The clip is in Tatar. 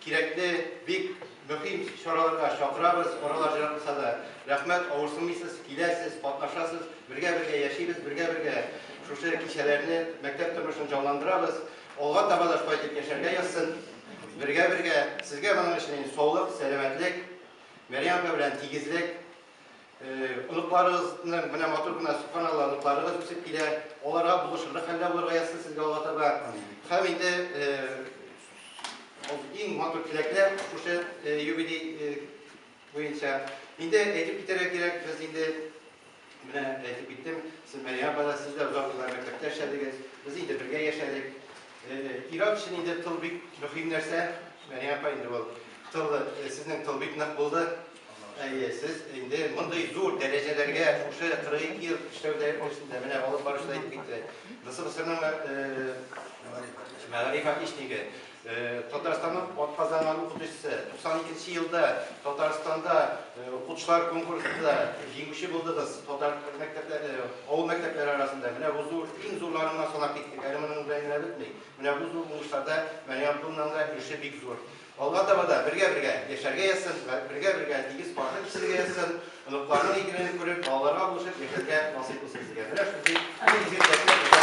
Кирәкле, бик мөхим чараларга чакырабыз, паралар җырласа да. Рәхмәт, авырсынмыйсыз, киләсез, катнашасыз, бергә-бергә яшибез, бергә-бергә шушы кичәләрне, мәктәп тормышын җанландырабыз. Алга таба да шулай итеп яшәргә язсын. Бергә-бергә, сезгә моның өчен саулык, сәламәтлек, Мәрьям апа белән тигезлек, Оныкларыгызның менә матур гына субханалла оныкларыгыз үсеп килә. Аларга булышырлык хәлдә булырга язсын сезгә Алла таба. Һәм инде иң матур теләкләр шушы юбилей буенча. Инде әйтеп китәргә кирәк, без инде менә әйтеп киттем, сез Мәрия апада сез дә озак еллар мәктәптә эшләдегез, без инде бергә яшәдек. Ир-ат өчен инде тыл бик мөһим нәрсә. Мәрия апа инде ул тыл, сезнең тыл бик нык булды. Әйе, сез инде мондый зур дәрәҗәләргә шушы 42 ел эшләү дәрәҗәсендә менә алып барышта әйтеп китте. ГСБСРның мәгариф отличнигы, Татарстанның атказанган укытучысы. 92 елда Татарстанда укытучылар конкурсында җиңүче булдыгыз. Татар мәктәпләре, авыл мәктәпләре арасында менә бу зур, иң зурларына санап киттек. Әле моның белән генә бетми. Менә бу зур уңышларда Мәри Абдуллинның да өлеше бик зур. Алга таба да бергә-бергә яшәргә язсын, бергә-бергә тигез каршы кичерергә язсын, оныкларның игеленен күреп, балаларга булышып яшәргә насыйп булсын сезгә. Менә шундый зур изге теләкләр бездән